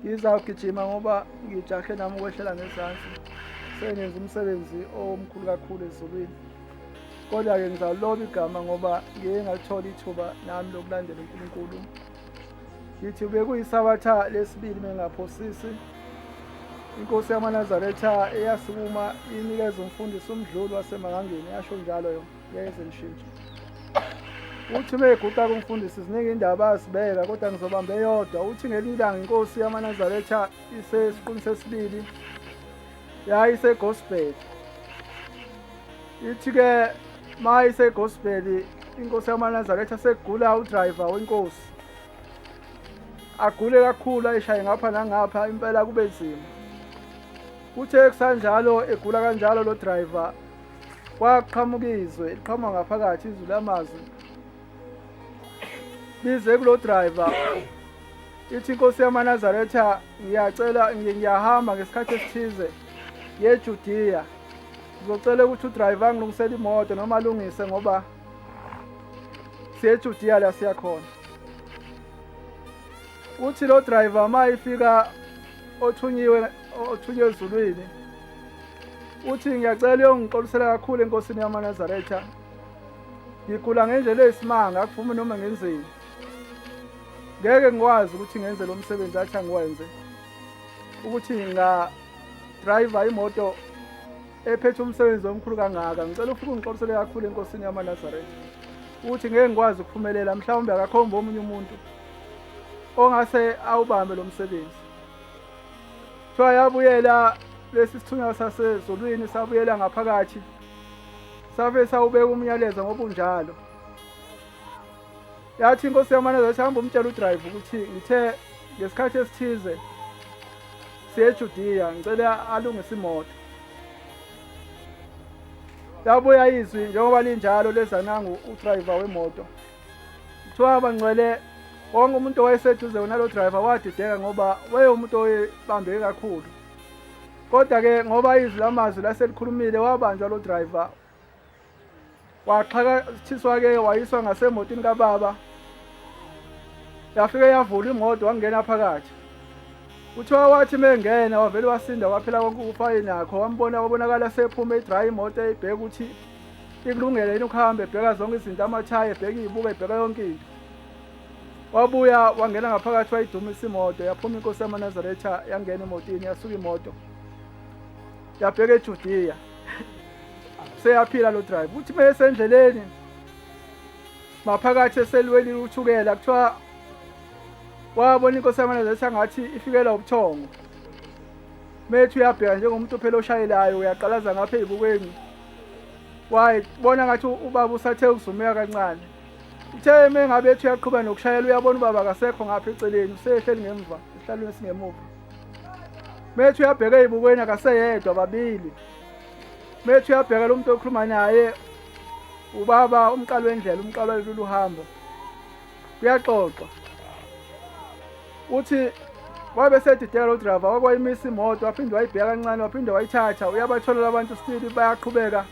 ngizawugijima ngoba ngijahe nami ukwehlela ngezansi sengenza umsebenzi omkhulu kakhulu ezulwini kodwa-ke ngizawuloba igama ngoba ngiye ngalithola ithuba nami lokulandela unkulunkulu ngithi bekuyisabatha lesibili mengaphosisi inkosi yamanazaretha eyasukuma inikeza umfundisi umdluli wasemangangeni yasho njalo yona Ngeke ngishintshe. Uthi uma eguqa kumfundisi ziningi indaba azibeka kodwa ngizobamba eyodwa. Uthi ngelinye ilanga inkosi yamanazaretha isesiqwini sesibili yayisegospel. Ithi-ke ma isegospel inkosi yamanazaretha sekugula udriver wenkosi. Agule kakhulu ayishaye ngapha nangapha impela kube nzima. Kuthe kusanjalo egula kanjalo lo driver kwaqhamuka izwe eliqhama ngaphakathi izwi lamazwi lize kulo driver ithi inkosi yamanazaretha ngiyacela ngiyahamba ngesikhathi esithize yejudiya ngizocela ukuthi udriver angilungisele imoto noma alungise ngoba siyejudiya la siyakhona uthi lo driver uma ifika othunyiwe othunyiwe ezulwini uthi ngiyacela uyongixolisela kakhulu enkosini yamanazaretha ngigula ngendlela eyisimanga akuvumi noma ngenzeni ngeke ngikwazi ukuthi ngenze lo msebenzi athi angiwenze ukuthi ngingadrayiva imoto ephethe umsebenzi omkhulu kangaka ngicela ufike ungixolisele kakhulu enkosini yamanazaretha ukuthi ngeke ngikwazi ukuphumelela mhlawumbe akakhomba omunye umuntu ongase awubambe lo msebenzi kuthiwa yabuyela lesi sithunywa sasezulwini sabuyela ngaphakathi sabe sawubeka umyalezo ngobunjalo yathi inkosi yamaneza yathi hamba umtshela udrayiva ukuthi ngithe ngesikhathi esithize siyejudiya ngicela alungise imoto yabuya izwi njengoba linjalo leza nangu udrayiva wemoto kuthiwa bangcwele wonke umuntu owayeseduze kunalo driver wadideka ngoba wayewumuntu oyebambeke kakhulu kodwa-ke ngoba izwi lamazwi laselikhulumile wabanjwa lo driver waxhakathiswa-ke wayiswa ngasemotini kababa yafike yavula imoto wangena phakathi kuthiwa wathi mengena wavele wasinda waphela konke ukufaye nakho wambona wabonakala sephume idrive imoto eyibheke ukuthi ikulungele yini ukuhamba ebheka zonke izinto amathayi ebheka iyibuka ebheka yonke into wabuya wangena ngaphakathi wayidumisa imoto yaphuma inkosi yamanazaretha yangena emotini yasuka imoto yabheka ejudiya seyaphila lo drive uthi uma esendleleni maphakathi eselweni uthukela kuthiwa wabona inkosi yamanazaretha ngathi ifikelwa ubuthongo methu uyabheka njengomuntu phela oshayelayo uyaqalaza ngapha eyibukweni wayibona ngathi ubaba usathe ukuzumeka kancane uthe uma engabe ethi uyaqhuba nokushayela uyabona ubaba akasekho ngapha eceleni usehleli ngemva esihlalweni esingemuva methi uyabheka ey'bukweni akaseyedwa babili methi uyabheka lo muntu okhuluma naye ubaba umqalo wendlela umqalo walolu hambo Kuyaxoxwa uthi wabe sedidela udrava wakwayimisa imoto waphinde wayibheka kancane waphinde wayithatha uyabatholela abantu stili bayaqhubeka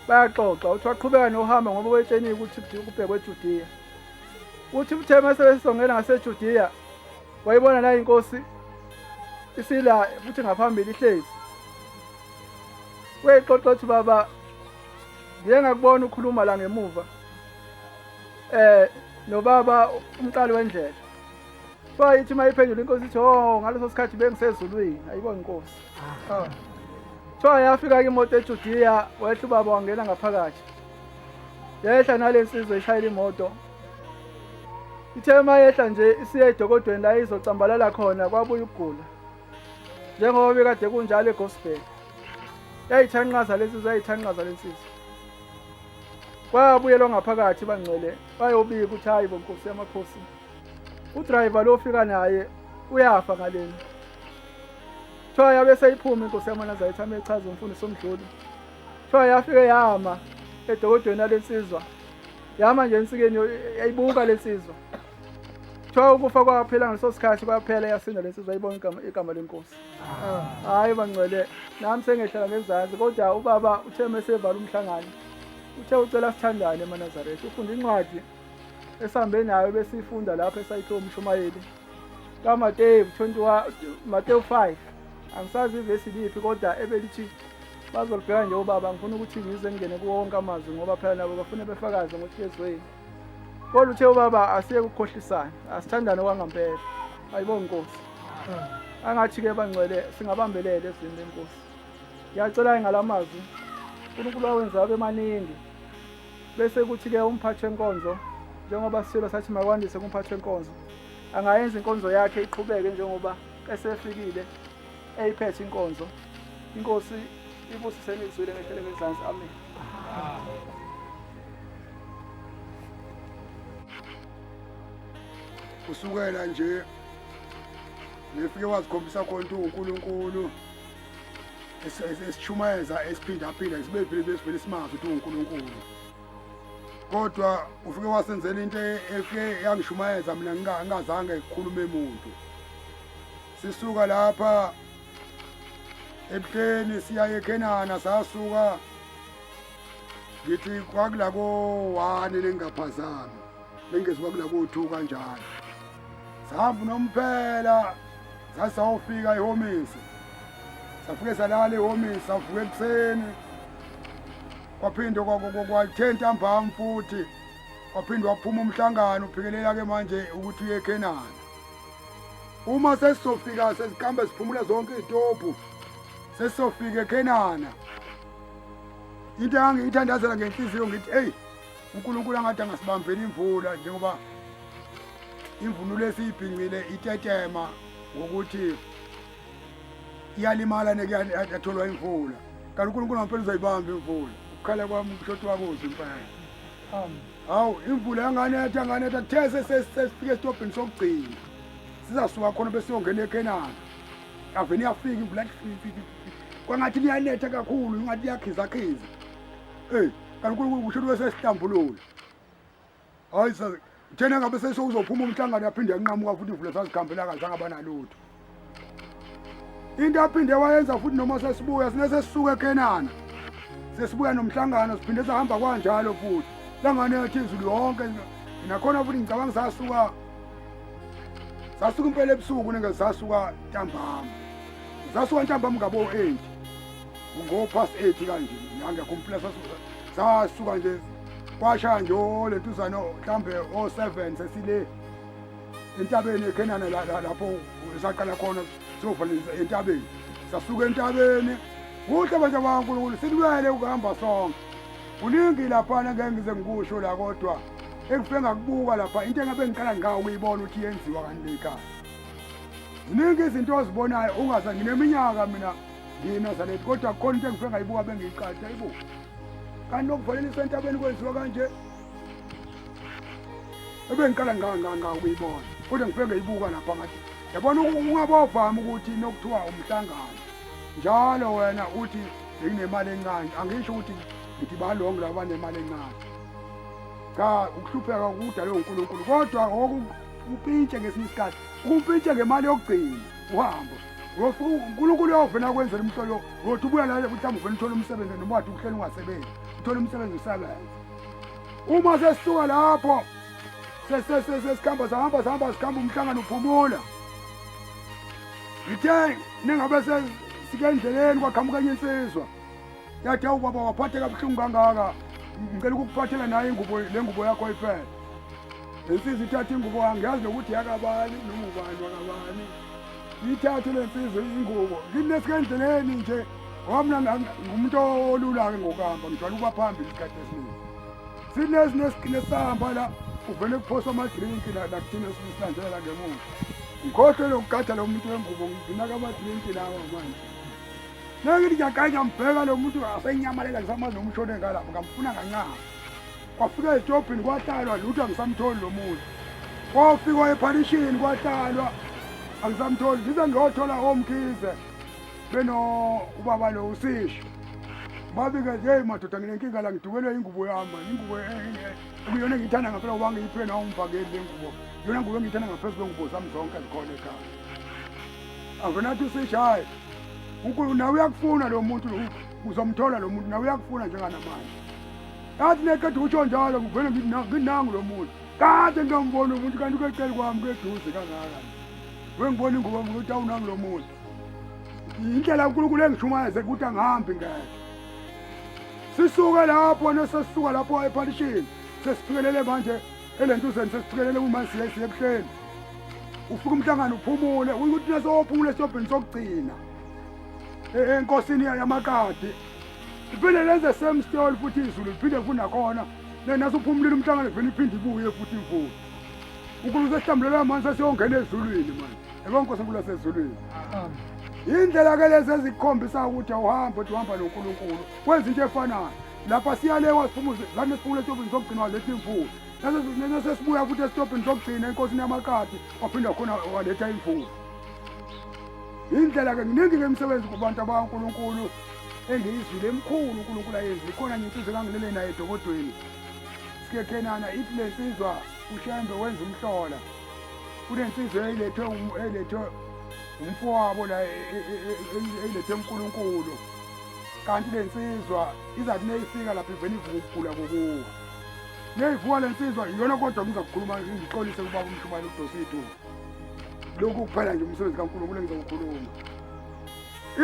bayaxoxa uthi waqhubeka nohamba ngoba wetsheniwe ukuthi kubhekwe ejudiya uthi uthe uma sebesongela ngasejudiya wayibona nayo inkosi isila futhi ngaphambili ihlezi wayixoxa ukuthi baba ngiye ngakubona ukhuluma la ngemuva eh nobaba umqali wendlela bayithi uma iphendula inkosi ithi oh ngaleso sikhathi bengisezulwini ayibona inkosi ah. kuthiwa yafika-ke imoto ejudiya wehla ubaba wangena ngaphakathi yehla nale nsizwa ishayela imoto ithe uma yehla nje isiye edokodweni la izocambalala khona kwabuya ukugula njengoba bekade kunjalo egospel yayithanqaza le nsizwa yayithanqaza le nsizwa Bayabuyelwa ngaphakathi bangcwele bayobika ukuthi hayi bo nkosi yamakhosi. Udriver lo ofika naye uyafa ngaleni. Kuthiwa yabe seyiphuma inkosi yamanazayitha amechaza umfundisi omdluli. Kuthiwa yafike yama edokodweni alensizwa. Yama nje ensikeni yayibuka lensizwa. Kuthiwa ukufa kwaphela ngaleso sikhathi kwaphela yasinda lensizwa ayibona igama igama lenkosi. hayi bangcwele nami sengehlala ngezansi kodwa ubaba uthe mesevala umhlangano uthe ucela sithandane emanazaretha ufunda incwadi esihambe nayo besiyifunda lapho esayithiwa umshumayeli kamateyu 21 mateyu 5 angisazi ivesi liphi kodwa ebelithi bazolibheka nje ubaba ngifuna ukuthi ngize ngingene kuwo wonke amazwi ngoba phela nabo bafune befakaze ngokuthi yezweni Kodwa uthe ubaba asiye kukhohlisana, asithandane kwangampela. Ayibo Nkosi. Angathi ke bangcwele singabambelele ezini lenkosi. Ngiyacela ngalamazwi uNkulunkulu awenza abe maningi. Bese kuthi ke umphathi wenkonzo njengoba sisilo sathi makwandise kumphathi wenkonzo. Angayenza inkonzo yakhe iqhubeke njengoba esefikile eyiphethe inkonzo inkosi ibusise nizwile ngehlele ngezansi amen kusukela nje ngifike wazikhombisa khona ukuthi uNkulunkulu esishumayeza esiphindaphinda sibe vele besivele simazi ukuthi uNkulunkulu kodwa ufike wasenzela into efike yangishumayeza mina ngingazange ngikhulume muntu sisuka lapha ebuhleni siya ekhenana sasuka ngithi kwakula ko-one nengingaphazami bengezi kwakula ko-two kanjalo sihamba unomphela sasawufika ehomisi safike salala ehomisi savuka ekuseni kwaphinde kwathe ntambama futhi waphinde waphuma umhlangano uphikelela-ke manje ukuthi uye ekhenana Uma sesizofika seziqambe siphumule zonke izitobhu sesizofika eKhenana. Into engangiyithandazela ngenhliziyo ngithi eyi uNkulunkulu angathi angasibambeli imvula njengoba imvunulo esiyibhincile itetema ngokuthi iyalimala nekuyatholwa imvula kanti uNkulunkulu ngampela uzoyibamba imvula ukukhala kwami umshoti wakuze impela Amen. hawu imvula yanganetha yanganetha kuthe sesifike esitobhini sokugcina sizasuka khona besiyongena ekhenana yavele iyafika imvula kwangathi liyanetha kakhulu ingathi liyakhizakhiza eyi kanti unkulunkulu kusho ukuthi wesesihlambulula hhayi uthena ngabe sesowuzophuma umhlangano yaphinde yanqamuka futhi ivule sazikhambela kahle angabanalutho into aphinde wayenza futhi noma sesibuya sine sesisuka eKenana sesibuya nomhlangano siphinde sihamba kwanjalo futhi langane yathi izulu yonke nakhona futhi ngicabanga sasuka sasuka impela ebusuku nenge sasuka ntambama sasuka ntambama ngabo 8 ngo past 8 kanje ngangekho umphila sasuka sasuka nje kwashaya nje lentuzana mhlambe o 7 sesile entabeni eKhenana lapho saqala khona sovalisa entabeni sasuka entabeni kuhle bantu bakaNkulunkulu silwele ukuhamba sonke kuningi laphana ngeke ngize ngikusho la kodwa ekufe ngakubuka lapha into engabe ngiqala ngqa ukuyibona ukuthi yenziwa kanti ekhaya ziningi izinto ozibonayo ungaza ngineminyaka mina ngiyinazalethi kodwa kukhona into engife ngayibuka bengiyiqatha ibuka kanti nokuvalelisa entabeni kwenziwa kanje ebengiqala ngangangawuyibona kodwa ngifike ngayibuka lapha ngathi yabona ungabovami ukuthi nokuthiwa umhlangano njalo wena uthi benginemali encane angisho ukuthi ngithi balongo laba banemali encane cha ukuhlupheka kudalwe uNkulunkulu kodwa okupintshe ngesinye isikhathi ukupintshe ngemali yokugcina uhambo uNkulunkulu uyovena kwenzela umhlolo wothi ubuya la mhlawumbe uvena uthole umsebenzi noma wathi uhleli ungasebenzi uthole umsebenzi usebenze uma sesisuka lapho sesikhamba sahamba sihamba sikhamba umhlangano uphumula ngithe ningabe sike endleleni kwaqhamuka enye insizwa yathi awu baba waphatheka buhlungu kangaka ngicela ukukuphathela naye ingubo le ngubo yakho ifele le nsizwa ithatha ingubo angiyazi nokuthi yakabani noma ubani wakabani Ngithathe le nsizwa ingubo ngineske endleleni nje ngoba mina ngumuntu olula-ke ngokuhamba ngijwayele ukuba phambili isikhathi esiningi sinezinesigcine sahamba la uvele kuphosa amadrinki la nakuthina sisanjela ngemuva ngikhohlwe lokugada lo muntu wengubo nginaka amadrinki lawa manje nangithi ngiyaganya ngibheka lo muntu asenyamalela ngisamazi nomshone ngalapho ngamfuna kancane kwafika ezitobhini kwahlalwa lutho angisamtholi lo muntu kwafikwa ephalishini kwahlalwa angisamtholi ngize ngiyothola omkhize beno ubaba lo usisho babike nje hey madoda nginenkinga la ngidukelwe ingubo yami ingubo e, e, e, ekuyona engiyithanda ngampela uba ngiyiphe nawo umvakeli le ngubo yona ngubo engiyithanda ngaphezu kwengubo zami zonke ezikhona ekhaya akonathi usisho hhayi unkulu nawe uyakufuna lo muntu uzomthola lo muntu nawe uyakufuna njenganamanje Ngathi neqeda ukusho njalo ngivele nginangu lo muntu. Kade ngingambona umuntu kanti kwecele kwami kweduze kangaka. Wengibona ingubo ngokuthi awunangu lo muntu. Indlela uNkulunkulu engishumayeze ukuthi angihambi ngeke. Sisuke lapho nesesisuka lapho ephalishini sesifikelele manje elentuzeni sesifikelele uma siye siye ebuhleni. Ufika umhlangano uphumule ukuthi nesophumule siyobhini sokugcina. E-, enkosini yamakade Liphinde lenze same story futhi izulu liphinde funa khona. Nena suphumulile umhlangano vele iphinde ibuye futhi imvula. UNkulunkulu sehlambulela amanzi asiyongena ezulwini manje. Yebo uNkulunkulu asezulwini. Indlela ke lezi ezikhombisa ukuthi awuhambi uthi uhamba noNkulunkulu. Kwenza into efanayo. Lapha siyalewa siphumuze lana siphumule etobini sokugcina waletha imvula. Nase nase sibuya futhi esitobhini sokugcina enkosini yamakati waphinde khona waletha imvula. indlela ke nginingi ke imisebenzi kubantu abankulunkulu engiyizwile emkhulu unkulunkulu ayenzi ikhona nje insizwa engangilele naye edokodweni sikekhenana ithi le nsizwa ushembe wenza umhlola kunensizwa eyilethwe um, eyilethwe umfowabo la e, e, e, eyilethwe unkulunkulu kanti le nsizwa izathi neyifika lapha ivele ivuka ukugula kokuwa neyivuka le nsizwa iyona kodwa ngizakukhuluma ngixolise kubaba umshumane udosithuba lokhu kuphela nje umsebenzi kaNkulunkulu engizowukhuluma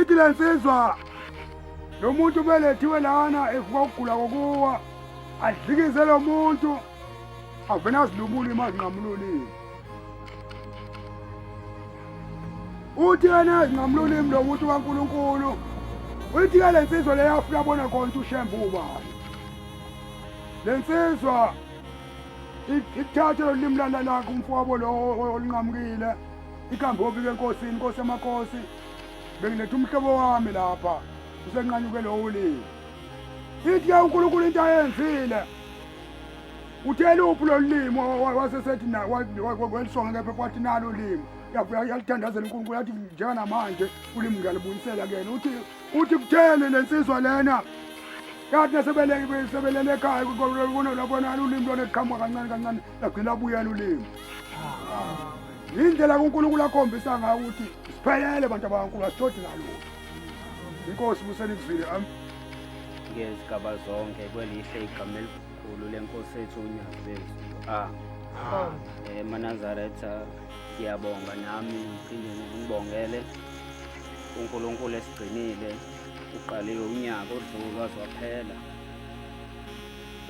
ithi le nsizwa lo muntu kumele ethiwe lana evuka ukugula kokuwa adlikize lo muntu avena azilubule imali ngamlulile uthi yena ngamlulimi lo muntu kaNkuluNkulu uthi ke lensizwa leyafika bona konke ushembu ubani lensizwa ikuthathe lo limi lana lakho umfowabo lo olinqamukile ikhambe obike enkosini inkosi yamakhosi bengiletha umhlobo wami lapha usenqanyuke lowo ulimi ithi ke unkulunkulu into ayenzile uthe luphi lolu limi wasesethi welisonga kepha kwathi nalo limi yalithandazela unkulunkulu yathi njenganamanje ulimi ngiyalibuyisela kuyena uthi Uthi kutheni le nsizwa lena kanti nasebelele ekhaya kunolabonana ulimi lona liqhamuka kancane kancane lagcina abuyela ulimi yindlela kunkulunkulu akhombisa ngayo ukuthi siphelele bantu abankulu asishodi ngalutho inkosi buseni kuzile am ngezigaba zonke kwelihle igama elikhulu lenkosi ethu unyazezi a ah. eh, manazaretha siyabonga nami ngiphinde ngibongele uNkulunkulu esigcinile uqaliwe unyaka odlule waze waphela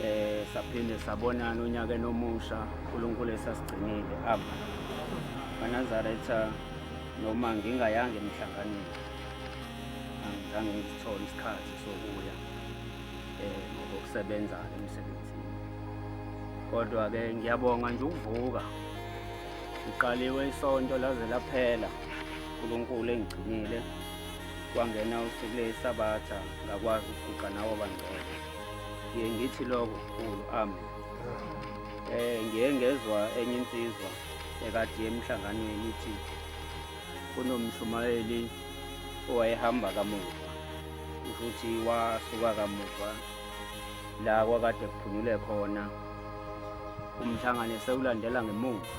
eh saphinde sabonana unyaka nomusha uNkulunkulu esasigcinile aba banazaretha noma ngingayanga emhlanganweni angizange ngithole isikhathi sokuya eh ngokusebenza emsebenzini kodwa ke ngiyabonga nje ukuvuka ngiqaliwe isonto laze laphela uNkulunkulu engigcinile kwangena usuku lesabatha ngakwazi ukuguqa nawo bangcwele ngiye ngithi lokho kukhulu ami eh ngiye ngezwa enye insizwa ekade emhlanganweni ithi kunomshumayeli owayehamba kamuva ukuthi wasuka kamuva la kwakade kuphunyule khona umhlangano esewulandela ngemuva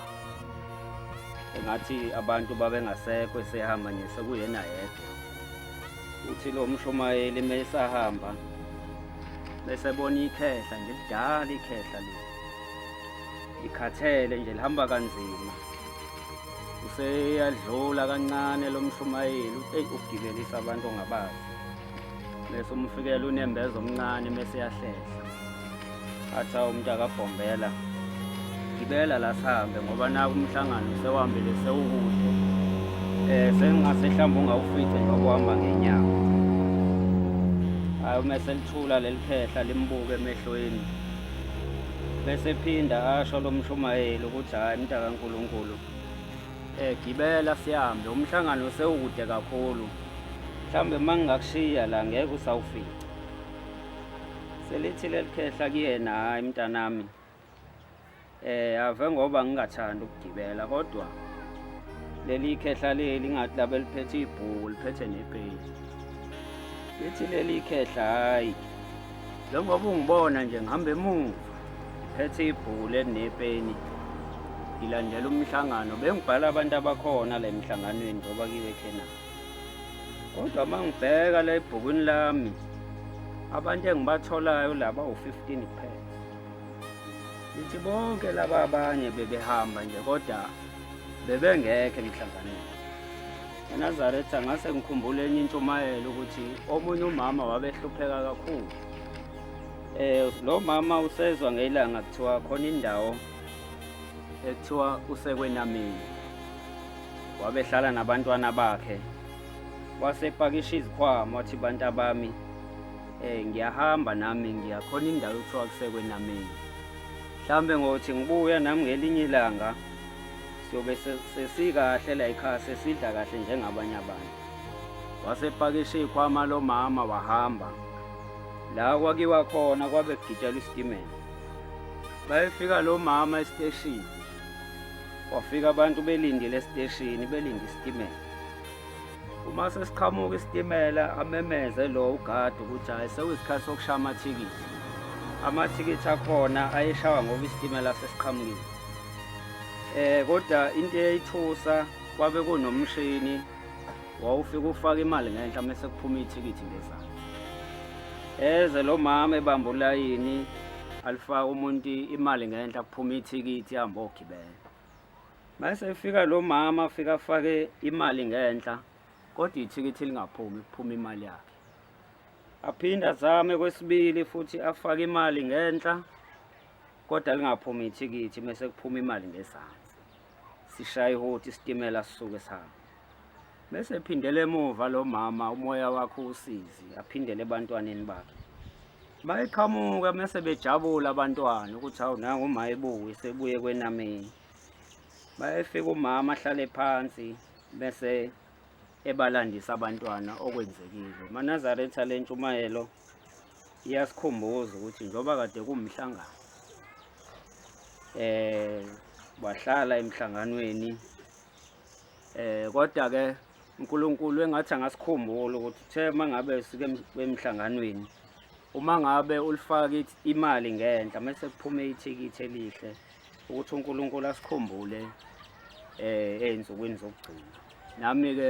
engathi abantu babengasekho esehamba nje sekuyena yedwa uthi lo mshumayeli uma esahamba bese bona ikhehla nje lidala ikhehla le ikhathele nje lihamba kanzima useyadlula kancane lo mshumayeli eyi ukugibelisa abantu ongabazi bese umfikela unembeza omncane bese yahlehla athi awu umuntu akabhombela gibela la sihambe ngoba naku umhlangano sewuhambele sewukude eh sengingase mhlawumbe ungawufice njengoba uhamba ngenyawo hayi uma selithula leli phehla limbuke emehlweni bese phinda asho lo mshumayeli ukuthi hhayi mntakankulunkulu Eh gibela sihambe umhlangano sewukude kakhulu. Mhlambe mangingakushiya la ngeke usawufika. Selithi lelikhehla kuyena hayi mntanami. Eh ave ngoba ngingathanda ukugibela kodwa leli khehla leli ngathi labe liphethe ibhuku liphethe nepage. Lithi leli khehla hayi Njengoba ungibona nje ngihamba emuva ngiphethe ibhule nepeni ngilandela umhlangano bengibhala abantu abakhona la emhlanganweni ngoba kiwe khena kodwa uma ngibheka la ebhukwini lami abantu engibatholayo laba u-15 kuphela ngithi bonke laba abanye bebehamba nje kodwa bebengekho emhlanganweni eNazaretha ngase ngikhumbula enye intshumayelo ukuthi omunye umama wabehlupheka kakhulu eh lo mama usezwa ngelanga kuthiwa khona indawo ekuthiwa usekwenamini wabehlala nabantwana bakhe wasepakisha izikhwama wathi bantu abami eh ngiyahamba nami ngiyakhona indawo ekuthiwa kusekwenamini mhlambe ngothi ngibuya nami ngelinye ilanga Siyobe se- sesikahle la ekhaya sesidla kahle njengabanye abantu. Wasepakisha ikhwama lomama wahamba. La kwakiwa khona kwabe kugitshelwa isitimela. Bayefika lo mama esiteshini. Kwafika abantu belindile esiteshini belinde isitimela. Uma sesiqhamuka isitimela amemeze lo ugadi ukuthi hayi sekuyisikhathi sokushaya amathikithi. Amathikithi akhona ayeshawa ngoba isitimela sesiqhamukile. Eh kodwa into eyayithusa kwabe kunomshini wawufika ufaka imali ngenhla mase kuphuma ithikithi ngezansi. Eze lo mama ebamba ulayini alifaka umuntu imali ngenhla kuphuma ithikithi ihamba ogibela. Mase efika lo mama afika afake imali ngenhla kodwa ithikithi lingaphumi kuphuma imali yakhe. Aphinde azame kwesibili futhi afake imali ngenhla kodwa lingaphumi ithikithi uma sekuphuma imali ngezansi sishaya ihoti isitimela sisuke sihamba bese phindele emuva lo mama umoya wakhe usizi aphindele ebantwaneni bakhe bayiqhamuka mese bejabula abantwana ukuthi hawu nangu uma ebuye sebuye kwenameni bayefika umama ahlale phansi bese ebalandisa abantwana okwenzekile manazaretha lentshumayelo iyasikhumbuza ukuthi njengoba kade kumhlangano eh wahlala emhlanganweni eh kodwa ke uNkulunkulu engathi angasikhumbula ukuthi uthe mangabe sike emhlanganweni uma ngabe ulifaka imali ngenhla mase kuphume ithikithi elihle ukuthi uNkulunkulu asikhumbule eh ezinsukwini zokugcina nami ke